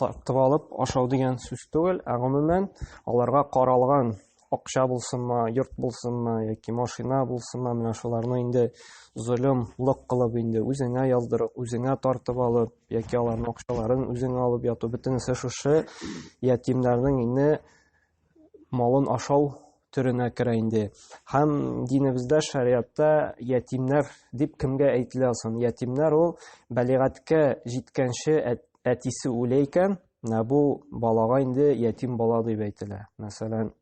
тартып алып ашау дигән сүз түгел, ә гомумән аларга каралган акча булсынмы, йорт булсынмы яки машина булсынмы, менә шуларны инде лык кылып инде үзеңә яздырып, үзеңә тартып алып, яки аларның акчаларын үзеңә алып яту бөтенесе шушы ятимнәрнең инде малын ашау төренә керә инде. Һәм динебездә шариатта ятимнәр дип кемгә әйтелә соң? Ятимнәр ул бәлигатькә җиткәнче әтисе үлә икән, менә бу балага инде ятим бала дип әйтелә. Мәсәлән,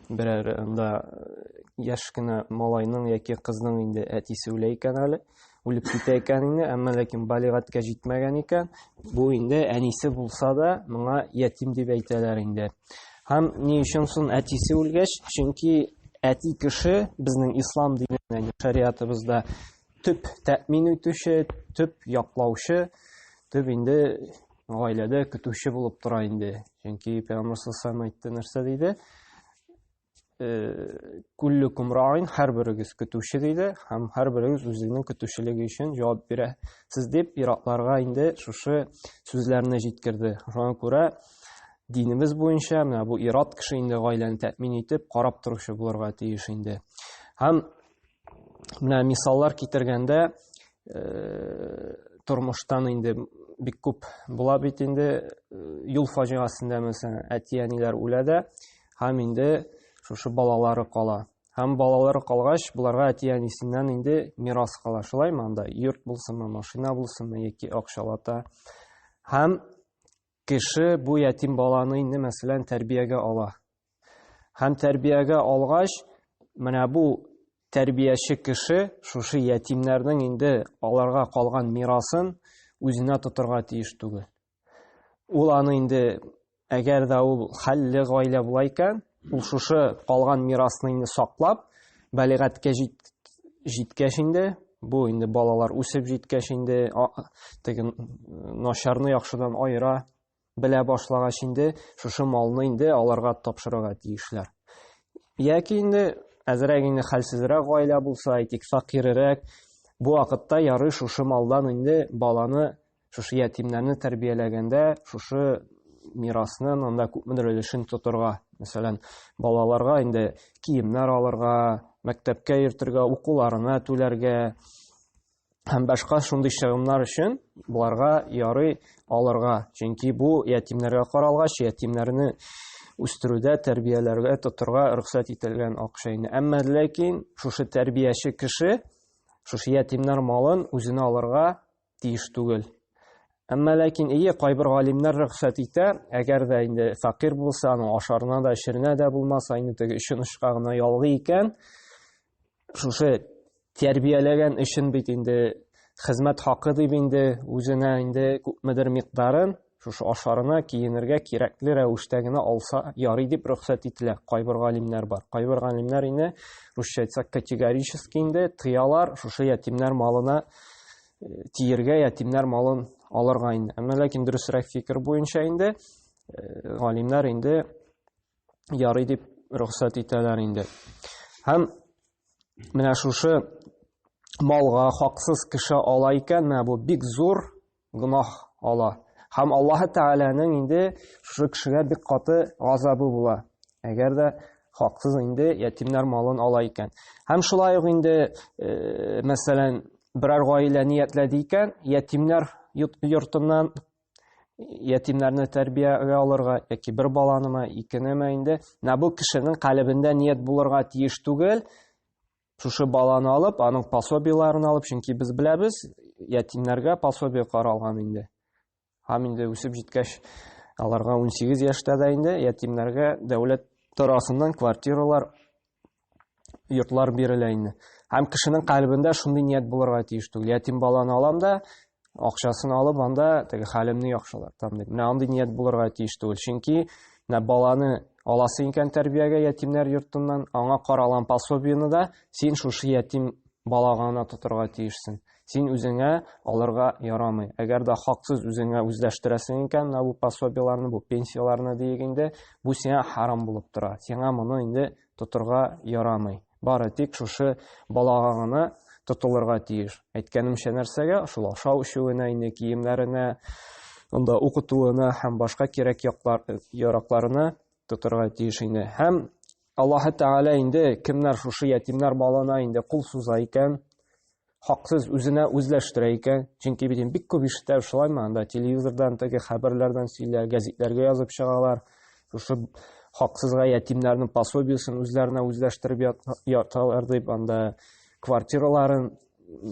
берәр анда яшь кенә малайның яки кызның инде әтисе үлә икән әле. үлеп китә икән инде әмма ләкин балигатькә җитмәгән икән бу инде әнисе булса да моңа ятим дип әйтәләр инде һәм ни өчен соң әтисе үлгәч чөнки әти кеше безнең ислам диненә шариатыбызда төп тәэмин итүче төп яклаучы төп инде гаиләдә көтүче булып тора инде чөнки пәйгамбәр әйтте нәрсә диде күлле кумраин һәрберегез көтүче диде һәм һәрберегез үзенең көтүчелеге өчен җавап бирә сез дип иратларга инде шушы сүзләрне җиткерде шуңа күрә динебез буенча менә бу ират кеше инде гаиләне тәэмин итеп карап торучы булырга тиеш инде һәм менә мисаллар китергәндә тормыштан инде бик күп була бит инде юл фаҗигасендә мәсәлән әти әниләр үлә дә һәм инде шушы балалары кала. Һәм балалары калгач, боларга әти-әнисеннән инде мирас кала, шулаймы анда? Йорт булсынмы, машина булсынмы яки акчалата. Һәм кеше бу ятим баланы инде мәсәлән тәрбиягә ала. Һәм тәрбиягә алгач, менә бу тәрбияче кеше шушы ятимнәрнең инде аларга калган мирасын үзенә тотырга тиеш түгел. Ул аны инде әгәр дә ул хәлле гаилә була икән, ул шушы калган мирасны инде саклап, балигатькә җиткәч инде, бу инде балалар үсеп җиткәч инде теге начарны яхшыдан аера белә башлагач инде шушы малны инде аларга тапшырырга тиешләр. Яки инде әзрәк инде хәлсезрәк гаилә булса, әйтик, факирерәк, бу вакытта ярый шушы малдан инде баланы шушы ятимнәрне тәрбияләгәндә шушы мирасны анда күпмедер өлешен тотырга мәсәлән балаларга инде киемнәр алырга мәктәпкә йөртергә укуларына түләргә һәм башка шундый чыгымнар өчен боларга ярый алырга чөнки бу ятимнәргә каралгач ятимнәрне үстерүдә тәрбияләргә тотырга рөхсәт ителгән акча инде әмма ләкин шушы тәрбияче кеше шушы ятимнәр малын үзенә алырга тиеш түгел. Әмма ләкин ие кайбер галимнәр рөхсәт итә, әгәр дә инде факир булса, аның ашарына да, эчеренә дә булмаса, инде теге өчен ышка гына ялгый икән, шушы тәрбияләгән өчен бит инде хезмәт хакы дип инде үзенә инде күпмедер микъдарын Шушы ашарына, киенергә кирәкле рәвештә генә алса ярый дип рөхсәт ителә. Кайбер галимнәр бар. Кайбер галимнәр инде русча әйтсәк категорически инде тыялар шушы ятимнәр малына э, тиергә, ятимнәр малын алырга инде. Әмма ләкин дөресрәк фикер буенча инде э, галимнәр инде ярый дип рөхсәт итәләр инде. Һәм менә шушы малга хаксыз кеше ала икән, менә бу бик зур гөнаһ ала. Һәм Аллаһ Тәгаләнең инде шушы кешегә бик каты газабы була. Әгәр дә хаксыз инде ятимнәр малын ала икән. Һәм шулай ук инде, э, мәсәлән, берәр гаилә ниятләде икән, ятимнәр йортыннан ятимнәрне тәрбиягә алырга яки бер баланымы, икенеме инде, менә бу кешенең калебендә ният булырга тиеш түгел, Шушы баланы алып, аның пособиеләрен алып, чөнки без беләбез, ятимнәргә пособие каралган инде. Һәм инде үсеп җиткәч, аларга 18 яшьтә дә инде ятимнәргә дәүләт тарафыннан квартиралар, йортлар бирелә инде. Һәм кешенең калбендә шундый ният булырга тиеш түгел. Ятим баланы алам да, акчасын алып анда теге хәлемне яхшылар там дип менә андый ният булырга тиеш түгел чөнки менә баланы аласы икән тәрбиягә ятимнәр йортыннан аңа каралган пособиены да син шушы ятим балага гына тотырга тиешсең син үзеңә алырга ярамый әгәр дә хаксыз үзеңә үзләштерәсең икән менә бу пособиеларны бу пенсияләрне диек инде бу сиңа харам булып тора сиңа моны инде тотырга ярамый Бары тик шушы балага гына тотылырга тиеш. Әйткәнемчә нәрсәгә? Шул ашау-эчүенә, инде киемнәренә, анда укытуына һәм башка кирәк яклар, яракларына тотырга тиеш инде. Һәм Аллаһы Тәгалә инде кемнәр шушы ятимнәр балына инде кул суза икән, хаксыз үзенә үзләштерә икән. Чөнки бит бик күп ишетә шулаймы, анда телевизордан теге хәбәрләрдән сөйлә, гәзитләргә язып чыгалар. Шушы хаксызга ятимнәрнең пособиесен үзләренә үзләштереп яталар дип, анда квартираларын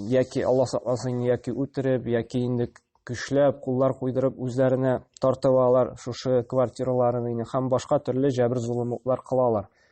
яки Алла сакласын, яки үтереп, яки инде көчләп, куллар куйдырып үзләренә тартып алалар шушы квартираларын инде һәм башка төрле җәбер золымлыклар кылалар.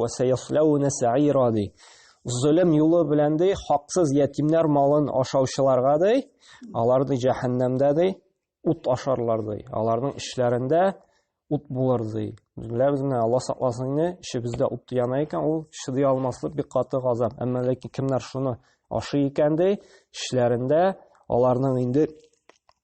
Вәсәясләүне сәйра ди. Зөлем юлы белән ди, хаксыз ятимнәр малын ашаучыларга ди, алар ди җәһәннәмдә ди, ут ашарлар ди. Аларның эшләрендә ут булыр ди. Беләбез менә Алла сакласын инде, эшебездә ут яна икән, ул чыдый алмаслык бик каты газап. Әмма ләкин кемнәр шуны ашый икән ди, эшләрендә аларның инде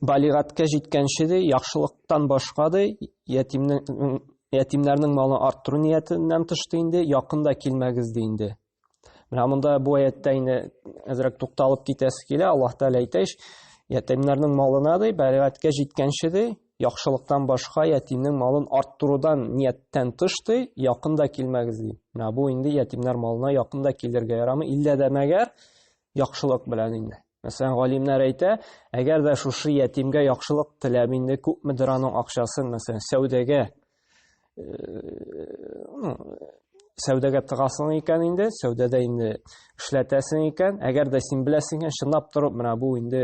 балигатькә җиткәнче ди яхшылыктан башка ди ятимнең ятимнәрнең малын арттыру ниятеннән тыш ди инде якында килмәгез ди инде менә монда бу аяттә инде әзрәк тукталып китәсе килә аллаһ тәгалә әйтә ич ятимнәрнең малына ди балигатькә җиткәнче ди яхшылыктан башка ятимнең малын арттырудан нияттән тыш ди якында килмәгез ди менә бу инде ятимнәр малына якында килергә ярамый иллә дә мәгәр яхшылык белән инде. Мәсәлән, галимнәр әйтә, әгәр дә шушы ятимгә яхшылык теләп инде күпмедер аның акчасын, мәсәлән, сәүдәгә ну, сәүдәгә тыгасың икән инде, сәүдәдә инде эшләтәсең икән, әгәр дә син беләсең икән, чынлап торып, менә бу инде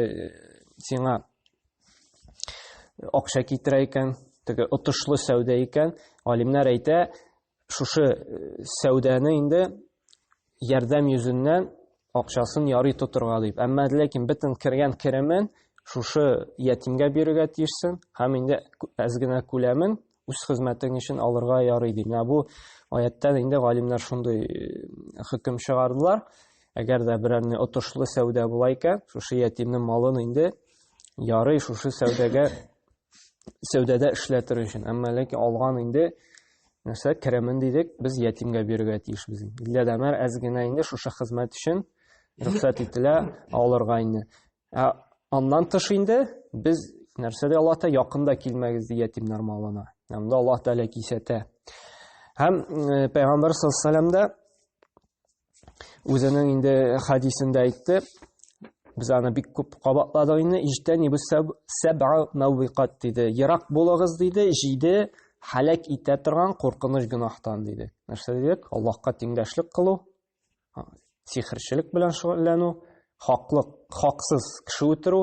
сиңа акча китерә икән, теге отышлы сәүдә икән, галимнәр әйтә, Шушы э, сәүдәне инде ярдәм йөзеннән акчасын ярый тотырга дип. Әмма ләкин бөтен кергән керемен шушы ятимгә бирергә тиешсең һәм инде әз генә күләмен үз хезмәтең өчен алырга ярый ди. Менә бу аяттан инде галимнәр шундый э, хөкем чыгардылар. Әгәр дә берәр отышлы сәүдә була икән, шушы ятимнең малын инде ярый шушы сәүдәгә сәүдәдә эшләп тору өчен әмма ләкин алган инде нәрсә керемен дидек без ятимгә бирергә тиешбез иллә дәмәр әз генә инде шушы хезмәт өчен рөхсәт ителә алырга инде ә аннан тыш инде без нәрсә дә аллаһ тәғәлә якында килмәгез ди ятимнәр малына анда аллаһ тәғәлә кисәтә һәм пәйгамбәр саллаллаху алейһи вәсәләм дә үзенең инде хадисендә әйтте без аны бик күп кабатладык инде иҗтәни бу сәбә мәвикат диде ерак булыгыз диде җиде һәлак итә торган куркыныч гөнаһтан диде нәрсә дидек аллаһка тиңдәшлек кылу сихерчелек белән шөгыльләнү хаклык хаксыз кеше үтерү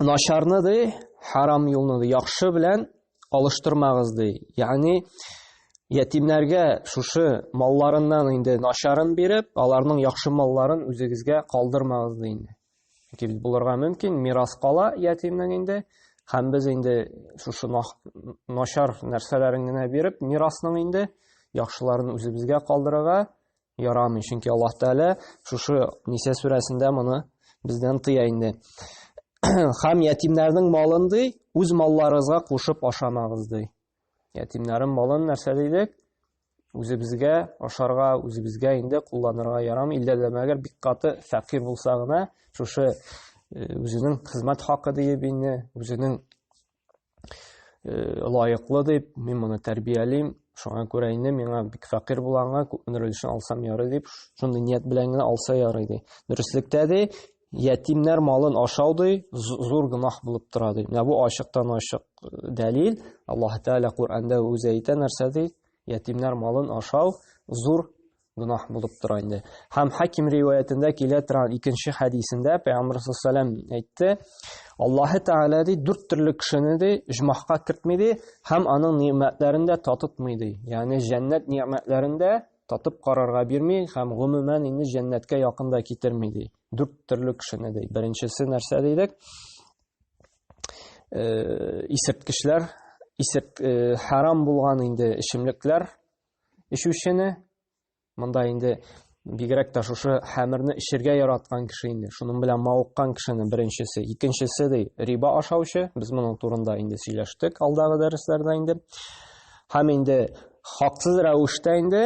начарны ди, харам юлны ди, яхшы белән алыштырмагыз ди. Ягъни ятимнәргә шушы малларыннан инде начарын биреп, аларның яхшы малларын үзегезгә калдырмагыз ди инде. Чөнки бит булырга мөмкин, мирас кала ятимнең инде, һәм без инде шушы начар нәрсәләрен генә биреп, мирасның инде яхшыларын үзебезгә калдырырга ярамый, чөнки Аллаһ Тәгалә шушы Ниса сүрәсендә моны бездән тыя инде. Хам ятимнәрнең малын ди, үз малларыгызга кушып ашамагыз ди. Ятимнәрнең малын нәрсә дидек? Үзебезгә ашарга, үзебезгә инде кулланырга ярам, илдә дә мәгәр бик каты фәкир булса гына, шушы э, үзенең хезмәт хакы диеп инде, үзенең э, лаеклы дип, мин моны тәрбиялим, шуңа күрә инде миңа бик фәкыйрь булганга күпмедер өлешен алсам ярый дип, шундый ният белән генә алса ярый ди. Дөреслектә ди, ятимнәр малын ашау ди, зур гөнаһ булып тора ди. Менә бу ачыктан ачык э, дәлил. Аллаһ Тәгалә Коръәндә үзе әйтә нәрсә ди? Ятимнәр малын ашау зур гөнаһ булып тора инде. Һәм Хаким риваятендә килә торган икенче хәдисендә Пәйгамбәр саллаллаху алейһи әйтте, Аллаһы Тәгалә ди дүрт төрле кешене ди җмахка кертми ди һәм аның ниъмәтләрен дә татытмый ди. Ягъни җәннәт ниъмәтләрен дә татып карарга бирми һәм гомумән инде җәннәткә якын да китерми ди. Дүрт төрле кешене ди. Беренчесе нәрсә дидек? Э, исерткечләр, исерт э, харам булган инде эчемлекләр эчүчене, монда инде бигрәк тә шушы хәмерне эчергә яраткан кеше инде шуның белән мавыккан кешенең беренчесе икенчесе ди риба ашаучы без моның турында инде сөйләштек алдагы дәресләрдә инде һәм инде хаксыз рәвештә инде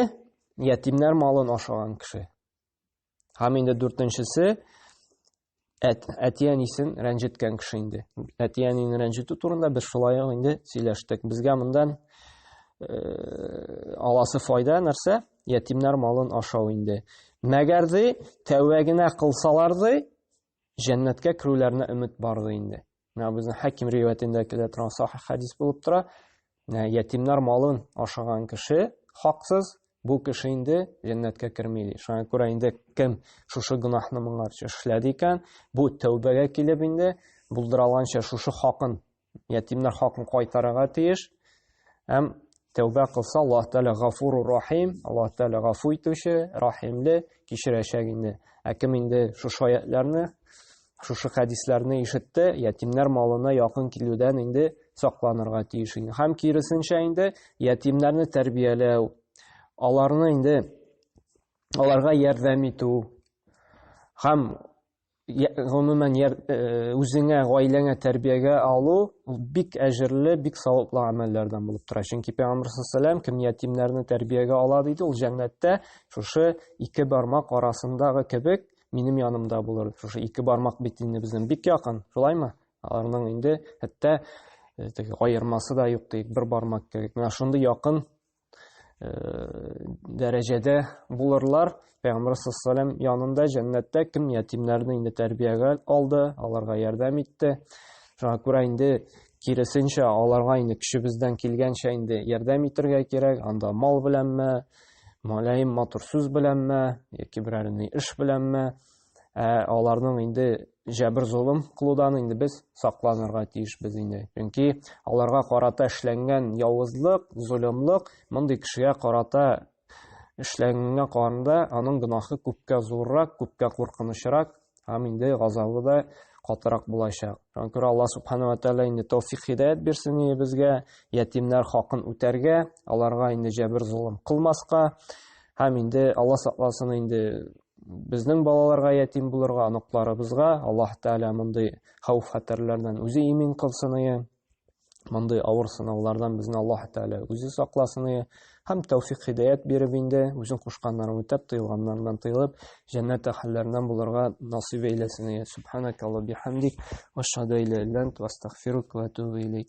ятимнәр малын ашаган кеше Һәм инде дүртенчесе әт, әтиәнисен рәнҗеткән кеше инде. Әтиәнин рәнҗетү турында без шулай инде сөйләштек. Безгә мондан э, аласы файда нәрсә? Ятимнәр малын ашау инде. Мәгәрди тәүәгенә кылсаларды, җәннәткә керүләренә өмет барды инде. Менә безнең Хаким риваятендә килә торган сахих хадис булып тора. Менә ятимнар малын ашаган кеше хаксыз, бу кеше инде җәннәткә керми ди. Шуңа күрә инде кем шушы гөнаһны моңарча эшләде икән, бу тәүбәгә килеп инде булдыралганча шушы хакын ятимнәр хакын кайтарырга тиеш. Һәм тәүбә кылса, Аллаһ Тәгалә Гафуру Рахим, Аллаһ Тәгалә гафу итүче, рәхимле, кичерәчәк инде. Ә кем инде шушы аятларны, шушы хәдисләрне ишетте, ятимнәр малына якын килүдән инде сакланырга тиеш инде. Һәм киресенчә инде ятимнәрне тәрбияләү, аларны инде аларга ярдәм итү һәм гомумән яр, э, үзеңә, гаиләңә тәрбиягә алу ул бик әҗерле, бик саваплы гамәлләрдән булып тора. Чөнки Пәйгамбәр саллаллаху кем ятимнәрне тәрбиягә ала диде, ул җәннәттә шушы ике бармак арасындагы кебек минем янымда булыр. Шушы ике бармак бит инде безнең бик якын, шулаймы? Аларның инде хәтта э, аермасы да юк диек, бер бармак кебек. Менә шундый якын дәрәҗәдә булырлар. Пәйгамбәр саллаллаху янында җәннәттә кем ятимнәрне инде тәрбиягә алды, аларга ярдәм итте. Шуңа күрә инде киресенчә аларга инде көчебездән килгәнчә инде ярдәм итәргә кирәк. Анда мал беләнме, малаем матур сүз беләнме, яки берәр ни эш беләнме, Ә аларның инде җәбер золым кылудан инде без сакланырга тиешбез инде. Чөнки аларга карата эшләнгән явызлык, золымлык мондый кешегә карата эшләнгәнгә караганда аның гөнаһы күпкә зуррак, күпкә куркынычрак һәм инде газабы да катырак булачак. Шуңа күрә Аллаһ субхана ва тәгалә инде тәүфик хидәят бирсен инде безгә ятимнәр хакын үтәргә, аларга инде җәбер золым кылмаска һәм инде Аллаһ сакласын инде безнең балаларга ятим булырга, оныкларыбызга Аллаһ Тәгалә мондый хәүф-хәтәрләрдән үзе имин кылсын ие. Мондый авыр сынаулардан безне Аллаһ Тәгалә үзе сакласын ие. Һәм тәүфик хидәят биреп инде, үзен кушканнарын үтәп, тыелганнардан тыелып, җәннәт әһелләреннән булырга насыйп әйләсен ие. Субханакалла бихамдик, ва шһаду ла иляха илля ант, ва астагфирука ва атубу илейк.